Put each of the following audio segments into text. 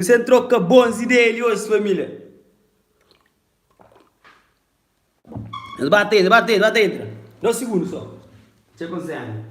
Sen troka bons ideia li oji familia. Es ba ta entra, ba ta entra, ba ta entra. Da un segundo so. Txeu konsenha.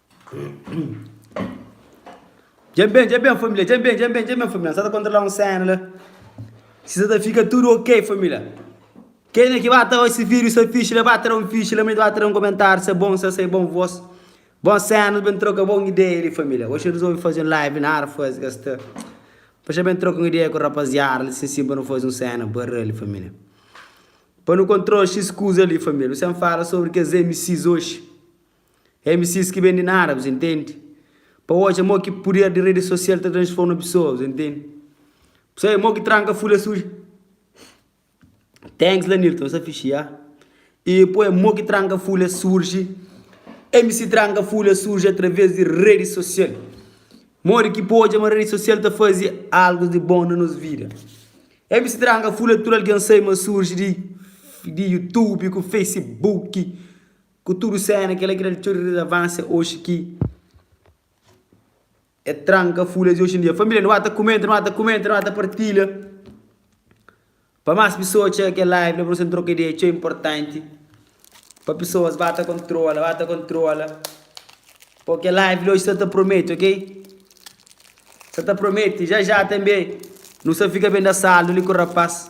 Dja ben, dja ben família, dja ben, dja ben, dja ben família, sa ta kontrola un séna la Si sa ta fika tudu ok família Kenha ki ba ta oji si vídiu sa fixi la ba tra un fixi la ma ba tra un komentáriu sa bon sa sai bon vós Bon séna ben troka bon ideia li família Oxi rizolvi faze un live nada faze ka sta Pa xa ben troka un ideia ku rapaziada li si si pa nu faze un séna barra li família Pa nu kontrola xis kuza li família Nu sen fala sobri kes MCs oxi. MCs ki ben di nada, bus intendi Pa odja mo ki puder di redi sosial ta transforma pesoa, bus intendi Bu sabe mo ki tranka fula suja Thanks Lanirton, sa fixi ya E po é mo ki tranka fula surji MC tranka fula surji através di redi sosial Modi ki pa odja ma redi sosial ta fazi algus di bon na nos vida MC tranka fula tudu algen sai ma surji di di Youtube ku Facebook. Ku tudu séna, kel-la ki da-l txeu rilevánsia oxi ki el tranka fula es oxi-n-dia. Família, nu ba ta kumenta, nu ba ta kumenta, nu ba ta partilha pa más pesoas txega kel live la, pa nu sen troka ideia. É txeu inportanti pa pesoas ba ta kontrola, ba ta kontrola. Pô, kel live la oxi sta ta promete, ok? Sta ta promete. Já já tanbê nu sta fika ben da saldu li ku rapás,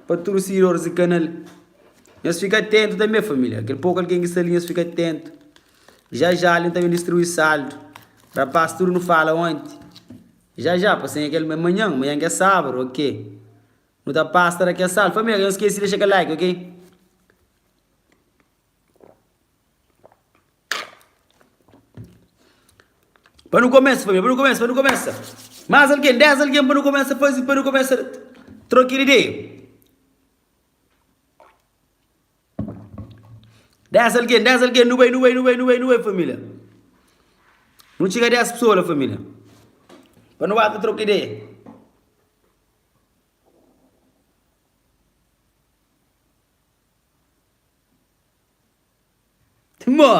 pa tudu sigidoris di kanal. Nhos fika atentu tanbe família, kel poku algen ki sta li, nhos fika atentu. Já já alin ta ben distrui saldu. Rapaz, tudu nu fala onti. Já já, pa senha kel, é manhan, manhan ki é sabadu, ok. Nu ta pasta da kel saldu. Família, ka nhos skesi dexa kel like, ok. Pa nu kumesa família, pa nu kumesa, pa nu kumesa. Más algen, 10 algen pa nu kumesa faze, pa nu kumesa troka ideia. Dés algen, dés algen, nu bai, nu bai, nu bai, nu bai, nu bai família. Nu txiga dés pesoa la família. Pa nu ba ta troka ideia. Mo,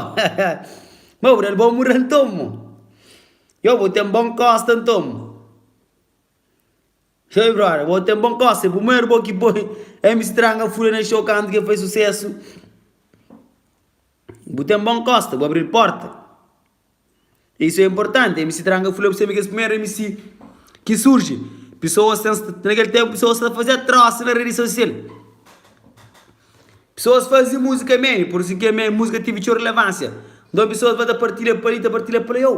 mo bu dal bon mura nton mo. Yo bu ten bon kosta nton mo. Hey brother, bo tem bon cosa, é primeiro bo ki poi MC Tranga fura na show kantu ki el fai sucesso. Bu tem bon costa, bu abrir porta. Isso é importante, MC Tranga fura pra sempre que es primeiro MC ki surge. Pessoas tem, naquele tempo pessoas ta fazia troça na rede social. Pesoas fazi muzika meni por si ke mei muzika tivi txeu relevansia nton pesoas va ta partilha pali ta partilha pali eu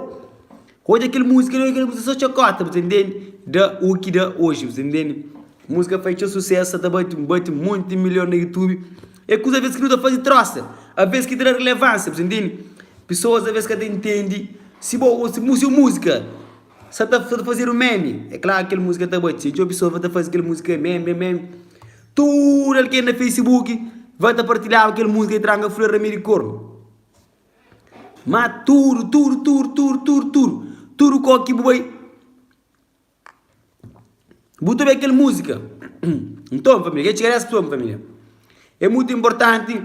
odja kel muzika li kel muzika so txakota bu ta intendi da uki da oji bu ta intendi muzika fai txeu sucesso sa ta bati bati monti milion na youtube e kuza aves ki nu ta fazi trosa aves ki tra relevansia bu ta intendi pesoas aves ka ta intendi si bo gosi mu si muzika sa ta fazedu meni e kla kel muzika ta bati txeu pesoas va ta fazi kel muzika meme meme Tudu algen na facebook va ta partilhaba kel musika e tranga fla ramiri kornu ma tudu tudu tudu tudu tudu tudu tudu kó ki bu bai bu ta obi kel musika nton família ke txeres pessoa família e mutu inportanti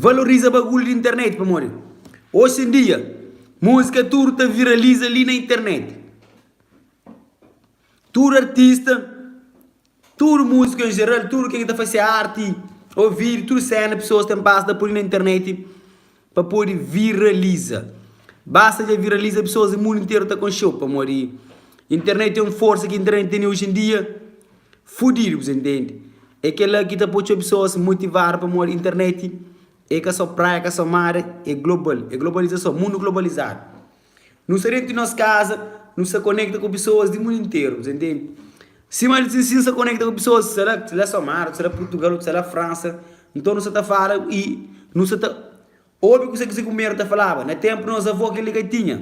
valoriza bagulhu di internet pamodi oxi en dia musika tudu ta viraliza li na internet Tudu artista, tudu múziku en jeral, tudu ken ki ta fase arti ô vídiu, tudu séna pesoas ten bas da pô-l na internet pa pode viraliza. Basta el dja viraliza, pesoas di mundu interu ta konxe-u pamodi internet é un forsa ki internet tene oji en dia fudidu, bu ta intende. É kel-la ki ta pô txeu pesoas motivadu pamodi internet é ka sô praia, ka sô mar, é global, é globalizason, mundu globalizadu. Nu sta déntu di nos kaza, nu sta konekta ku pesoas di mundu interu. Ses ntende? Sima el sinstin sta konekta ku pesoas, sela ki sela Samara, sela Purtugal, otu sela Fransa. Nton nu sta ta fala i nu sta ta obi kuzê ki se kunbedu ta falaba. Na ténpu di nos avô, kel-li ka tinha.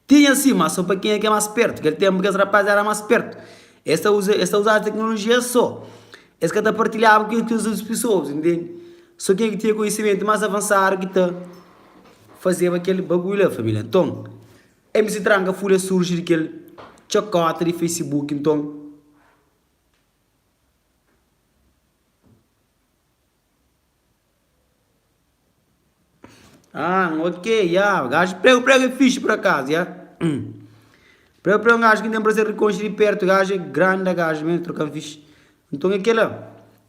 Tinha si, má sô pa kenha ki é más spértu. Kel ténpu kes rapás éra más spértu, es ta uza es ta uzaba teknolojia es sô. Es ka ta partilhaba ku kes otus pesoas, ntende? Sô kenha ki tinha konhisimentu más avansadu ki ta. fazeba kel bagulhu la família nton MC tranca fúria surji di kel txakota di facebook nton ah ok ya gajo pregu pregu é fixi pur akazu ya hum pregu pregu é un gajo ki n'tem prazer di konxe di pertu gajo é granda gajo mesmu trokan fixi Nton é kel-la,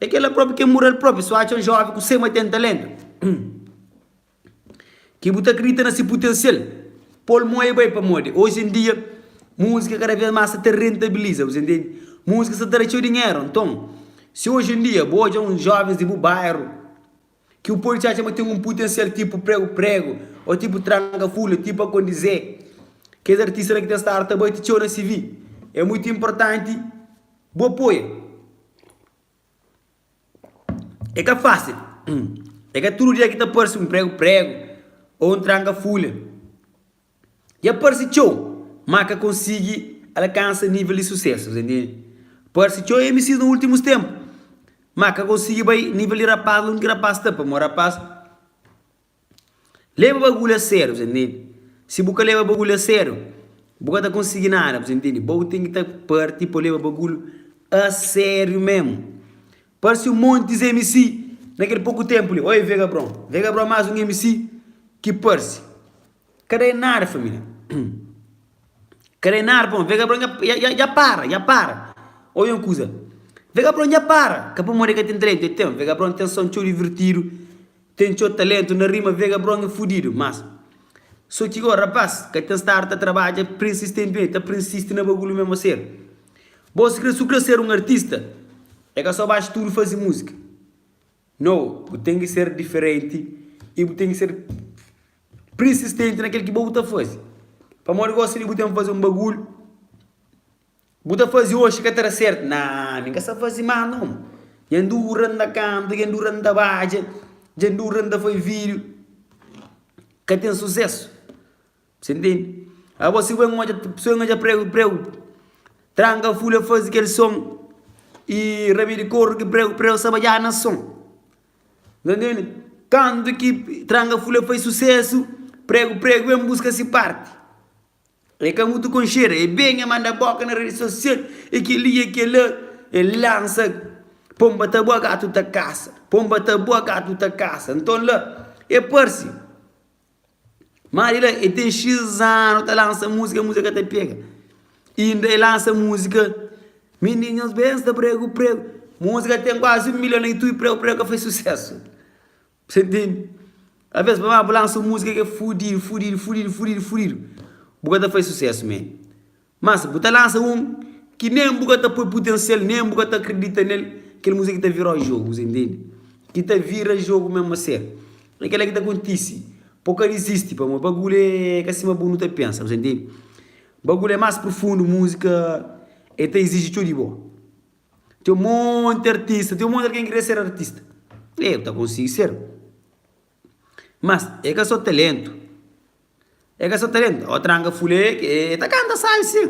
é kel-la própi ki é mura el própi, si bu atxa un jóven ku sema ten taléntu, ki bu ta kridita na se putensial, pô-l mon é bai. Pamodi oji en dia múzika kada bês más sta ta rentabiliza, bu ta intende? Múzika sta ta tra txeu dinheru. Nton, si oji en dia bu odja un jóvens di bu bairu. Ki bu pode atxa ma ten un putensial tipu pregu-pregu ô tipu tranga fula, ti pa kondizê. Kes artista la ki ten stadu ta bati txeu na CV, é muitu inportanti bu apoia. É ka fásil. É ka tudu dia ki ta parse un pregu-pregu ô un tranga fula. Dja parse txeu, má ka konsigi alkansa nível di susésu. Parse txeu MCs na últimus ténpu, má ka konsigi bai nível di rapaz la. Un ki rapaz ta, pamodi rapaz leba bagulhu a sériu, bu ta intende. Si bu ka leba bagulhu a sériu, bu ka ta konsigi nada, bu ta intende. Bo ten ki ta parti pa leba bagulhu a sériu mésmu. Parse un monti MC na kel poku ténpu li. Oi, Vega Bron! Vega Bron é más un MC ki parse. Ka da-i nada, família. Ka da-i nada pa un. Vegabron dja dja dja para, dja para. Odja un kuza. Vegabron dja para! Ka pamodi el ka ten taléntu, el ten. Vegabron ten son txeu divirtidu, ten txeu taléntu na rima. Vegabron é fudidu. Mas, so ki gora, rapás, ka ten stadu ta trabadja prinsistentimenti, ta prinsisti na bagulhu mé mo ser. Bo, si kre, si bu kre ser un artista, é ka so ba studu fazi múzika. No, bu ten ki ser diferenti i bu ten ki ser. Prinsistenti na kel ki bo bu ta faze. Pamodi gosi li bu ten faze un bagulhu bu ta faze oxi ka ta da sertu. Naa, mi ka sa faze más non. Dja N dura N ta kanta, dja N dura N ta badja, dja N dura N ta faze vídiu. Ka ten susésu. Sen tendi? Ago si bu ben odja pesoa ki odja pregu preu, tranka fule faze kel son i rabi di koru ki preu preu sa badjada na son. N tende kantu ki tranga fula fai susesu, pregu pregu en buska si parti. E ka mutu konxedu, e benha manda boka na redi sosial, e keli e kela, e lansa Pomba ta bua gatu ta kasa, Pomba ta bua gatu ta kasa. Nton la e parsi. Má di la e ten xis anu ta lansa múzika, múzika ka ta pega. Inda e lansa múzika Mendinhus bensta pregu pregu. Múzika ten kuazi un milhon na Youtube, pregu pregu ka faze susésu. Pa se ntende? Alvês pamodi ma bu lansa un múzika ki é fudidu, fudidu, fudidu, fudidu, fudidu, bu ka ta faze susésu, men. Má si bu ta lansa un ki nen bu ka ta poi putensial, nen bu ka ta kridita nel, kel múzika ki ta vira-u jogu, ses intende? Ki ta vira jogu mésmu a sério. É kel-la ki ta kontise. Pa bu ka dizisti, pamodi bagulhu é ka sima bu nu ta pensa, bu intende? Bagulhu é más prufundu, múzika el ta iziji txeu di bo. Ten monti artista, ten monti algen ki krê ser artista. Ê, bu ta konsigi ser. Mas e ka so talentu E ka so talentu Ó tranga fulé ke e ta kanta sai sin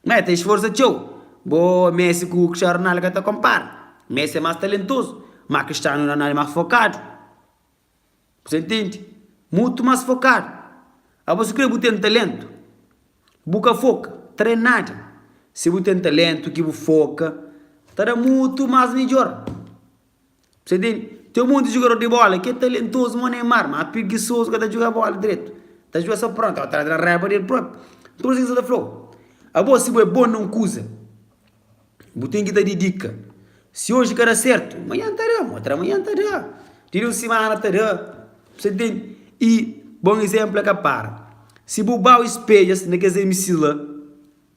Ma e ta esforsa txeu Bo Messi ku Crstiano Ronaldo ka ta konpara Messi e mas talentozu Ma Crstiano Ronaldo e mas fokadu Bu ta ntende? Mutu mas fokadu Abo si kre bu ten talentu Bu ka foka Tren nada Si bu ten talentu ki bu foka Ta da mutu mas midjor. Você tem, tem um monte de jogador de bola que é talentoso como Neymar, mas preguiçoso ka ta djuga bola dretu. Ta djuga só prontu, a tra-tra raiba del propi. Nton es ki sa ta fla-u, Abo, si bo é bon na un kuza, bu ten ki ta dedika. Si oji ka da sertu, manhan ta da, otra manhan ta da, ti di un simana ta da. Você tem? I bon izénplu é ka para. Si bu bai un spedjas na kes MCs la.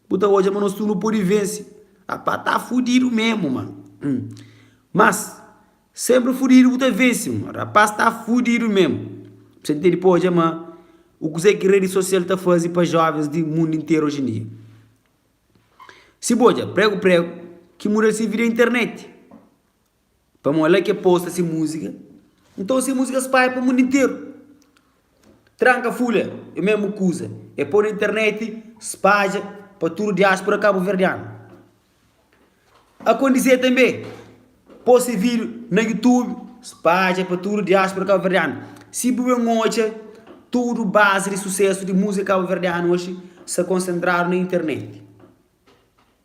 Bu ta odja ma nos tudu nu pode vense. Apa ta fudidu mesmu ma. Mas, senpri fudidu bu ta vense ma. Rapaz ta fudidu mesmu. Bse ten tene pa odja ma o kuzé ki redi sosial ta faze pa jovens di mundu interu oji en dia. Si bu odja pregu-pregu ki muda el se vida é internet. Pamó la ki e posta si múzika Nton si múzika spaia pa mundu interu Tranka Fúlia é mésmu kuza E pô na internet spadja pa tudu diáspura kabuverdianu Akondisê tanbê pô si vídiu na YouTube spadja pa tudu diáspura kabuverdianu Si bu ben odja tudu bazi di susésu di múzika kabuverdianu oji sta konsentradu na internet.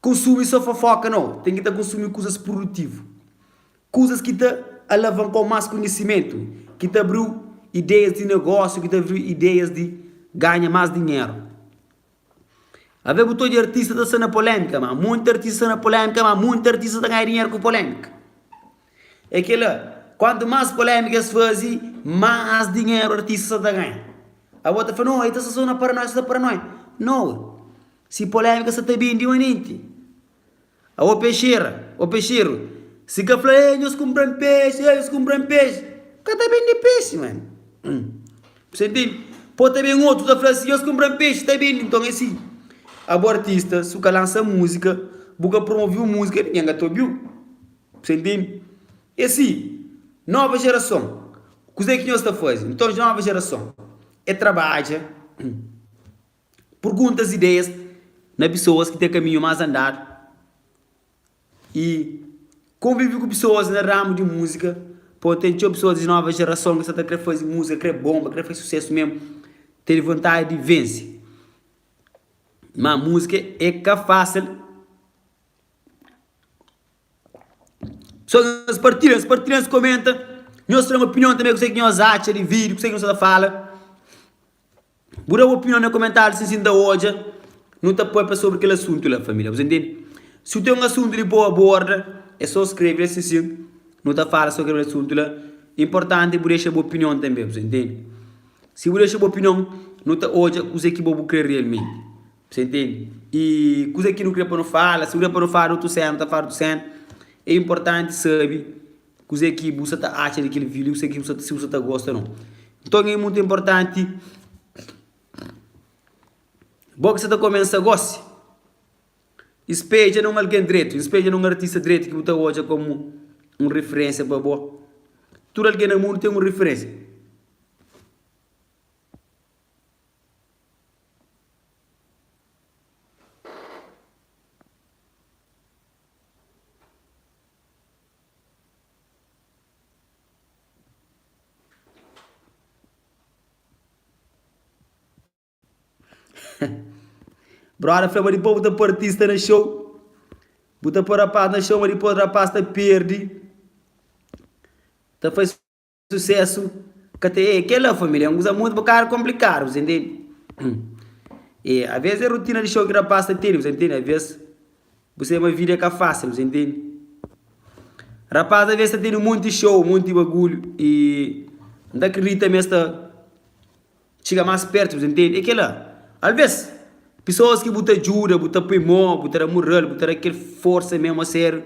Konsumi sô fofóka? Nau. Ten ki ta konsumi kuzas prudutivu, kuzas ki ta alavankau más konhisimentu, ki ta abriu ideias di negósiu, ki ta abriu ideias di ganha más dinheru. Ave bu ta odja artista ta sta na polémika? Má monti artista sta na polémika, má monti artista ta ganha dinheru ku polémika. É kel-la, kuantu más polémika es faze, más dinheru artista sta ta ganha. Abo ta fla, Nau, el ta sta sô na paranóia, sta ta paranoia. Nau. Si polémika sa ta bin di manenti. A o pexera, o pexeru, si ka fla ei nhos kunpra-m pexi, ei nhos kunpra-m pexi, ka ta bende pexi mane. Bse ntende? Po ta ben otu ta fla si nhos kunpra-m pexi ta bende. Nton é si, a bu artista, si bu ka lansa múzika, bu ka promoviu múzika, ningen ka ta obiu. Bse ntende? É si, nova jerason, kuzê ki nhos ta faze? Nton, nova jerason, é trabadja. Purguntas ideias na pisoas ki ten kaminhu más andadu y konvivi ku pisoas na ramu di muzika pô ten txeu pisoas di nova jerason ki sa ta kre fazi muzika kre bonba kre fazi susesu mesmu ten vontadi di vense ma muzika e ka fasil nhos partilha nhos partilha nhos komenta nhos tra nhos opinion tanbe kusé ki nhos atxa di vídiu kusé ki nhos ta fala. Bu da bu opinion na komentariu si si nta odja nu ta papia sobri kel asuntu la familia bos intendi si u ten un asuntu li bo aborda e so skrebe la si si nu ta fala sobri kel asuntu la importanti bu dexa bu opinion tanbe bos intendi si bu dexa bu opinion nu ta odja kuze ki bo bu kre realmenti bos intendi y kuze ki nu kre pa nu fala si nu kre pa nu fala di otu sena nu ta fala di otu sena e importanti sabi Kuzê ki bu sta ta atxa di kel vídiu? Kuzê ki si bu sta ta gosta nau? Nton é mutu inportanti bo ki sta ta komensa gósi i speja na un algen dretu, i speja na un artista dretu ki bu ta odja komu un rifirénsia pa bo. Tudu algen na mundu ten un rifirénsia. Brother fla ma dipô bu ta pôr artista na show Bu ta pôr rapaz na show ma dipôs rapaz ta perde Ta faz susesu ka ta e kela família é un kuza mutu bokadu konplikadu bu ta intende e aves é rutina di xou ki rapaz ta tene bu ta intende aves bu sai ma vida é ka fasil bu ta intende rapaz aves ta tene un monti xou un monti bagulhu i n ta kridita ma es ta Txiga más pértu pa bu ta ntende. É kel-la. Alvês, pesoas ki bu ta djuda, bu ta poi mô, bu ta da moral, bu ta da kel forsa mésmu a sériu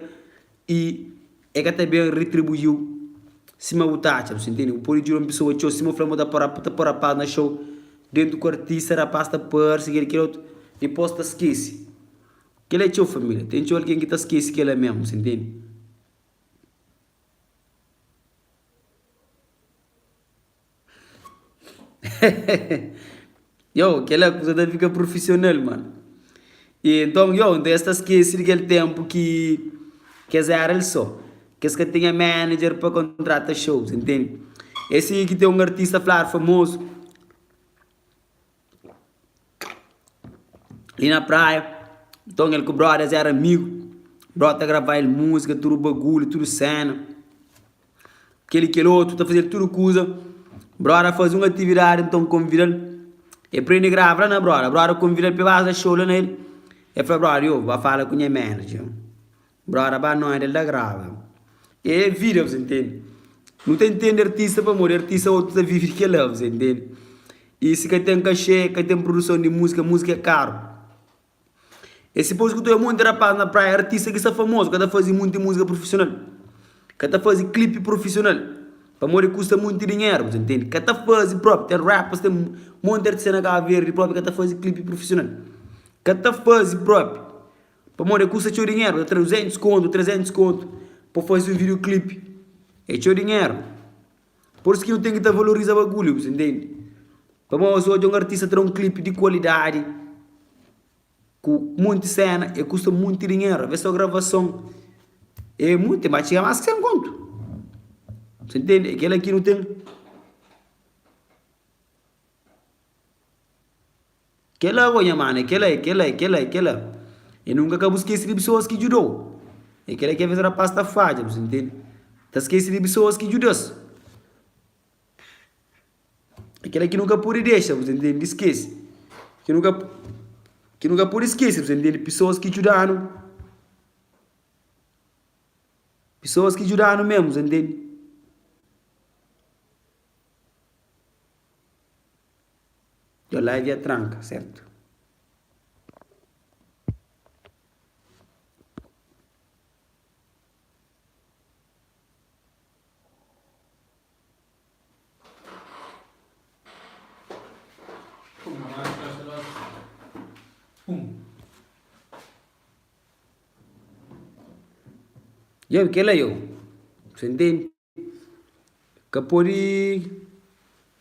i el ka ta ben retribui-u sima bu ta atxa. Bu ntende? Bu pode djuda un pesoa txeu sima bu fla ma bu ta pô-l, ta pô-l rapás na xou. Déntu ku artista, rapás ta parse kel-li, kel otu, dipôs ta skese. Kel-la é txeu família. Ten txeu algen ki ta skese kel-la mésmu, bu ntende? Yow, kel-la é kuza ta fika prufisional, mano. I nton, yow, nton es ta skese di kel ténpu ki ki es éra el sô, ki es ka tinha manager pa kontrata xous, intende? É si ki ten un artista fla-l, famozu. Li na praia, nton el ku brodas éra amigu. Broda ta grava el múzika, tudu bagulhu, tudu séna, kel-li i kel otu, ta faze-l tudu kuza. Broda faze un atividadi, nton konvida-l. El prende grava la na broda. Broda konvida-l pa el base da xou la na el. El fla broda, Ôô, ba fala ku nha manager. Broda ba noite el ta grava. É vida bzê ntende. Nu ta ntende artista pamodi artista otu ta vive di kela bzê ntende. Y si ka ten cachê, ka ten produson di múzika, múzika é karu. É si pa bu skuta monti rapaz na praia, artista ki sta famozu ka ta faze monti múzika prufisional, ka ta faze clipe prufisional pamodi kusta monti dinheru bzê ntende. Ka ta faze propi, ten rappers, ten monti artista na Kaba Verdi propi ka ta faze clipe prufisional. Ka ta faze propi. Pamodi el kusta txeu dinheru, ta tra 200 kontu, 300 kontu pa faze un videoklipi. É txeu dinheru. Pur-isu ki nu ten ki ta valoriza bagulhu, bu ta intende? Pamodi nhos odja un artista tra un klipi di kualidadi, ku monti séna, el kusta monti dinheru. Alvês sô gravason é monti, el ba txiga más ki 100 kontu. Bu ta intende? É kel-la ki nu ten. Kela bo nha mana, kela e kela e kela e kela e nunka ka bu skese di pesoas ki djudou e kela ki aves rapaz ta fadja bu sintende ta skese di pesoas ki djudas e kela ki nu ka pode dexa bu sintende di skese ki nu ka ki nu ka pode skese bu sintende pesoas ki djudanu pesoas ki djudanu mesmu bu sintende. Dja la é dja tranka, sertu? Dja, kel-la eu. Sentei-m. ka pode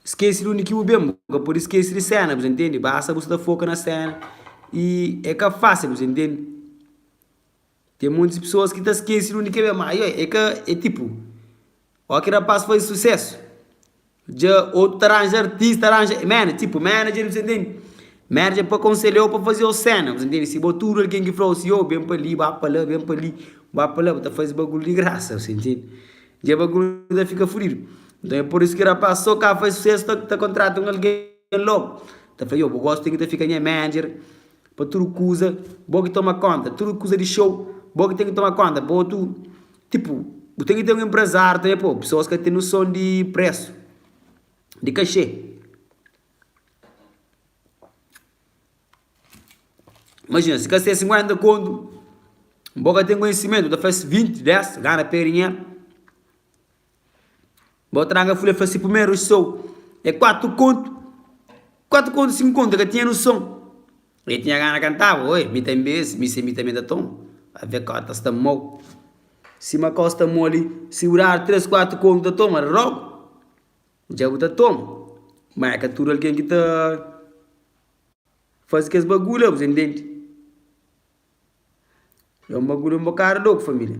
skese di undi ki bu ben bu ka pode skese di sena bu ta ntende basta bu sta foka na sena y e ka fasil bu ta ntende ten monti pesoas ki ta skese di undi ki e ben ma e ka e tipo oki rapaz faze susesu Dja otu ta ranja artis, ta ranja manager, tipu manager, bu ta intende? Manager pa konselha-u, pa faze-u séna, bu ta intende? Si bo tudu algen ki fla-u si, ôu ben pa li, ba pa la, ben pa li, ba pa la, bu ta faze bagulhu di grasa, bu ta intende? Dja bagulhu ta fika fudidu. Nton, é pur isu ki rapás sô ka faze susésu ta ta kontrata un algen lógu. Ta fla, ôu, bo gósi ten ki ta fika nha manager pa tudu kuza, bo ki toma kónta, tudu kuza di xou, bo ki ten ki toma kónta, pa otu. Tipu, bu ten ki ten un enpresáriu tanbê, pô, pesoas ka ten noson di presu, di kaxê. Imajina, si kaxê é sinkuénta kontu, bo ka ten konhisimentu, bu ta faze vinti, dés, gana pé dinheru. Bo traga fule fla si primeru sou é quatro conto, quatro conto cinco conto el ka tinha noção, el tinha gana cantava, oi mi tem bês, mi se mi também ta toma, a ve cota sta mou, si ma cota sta mou ali, si bu dar tres quatro conto ta toma rogo, dja bu ta toma, ma é ka tudo alguém ki ta faze kes bagulho la, bu ta intende, é um bagulho um bocado louco família.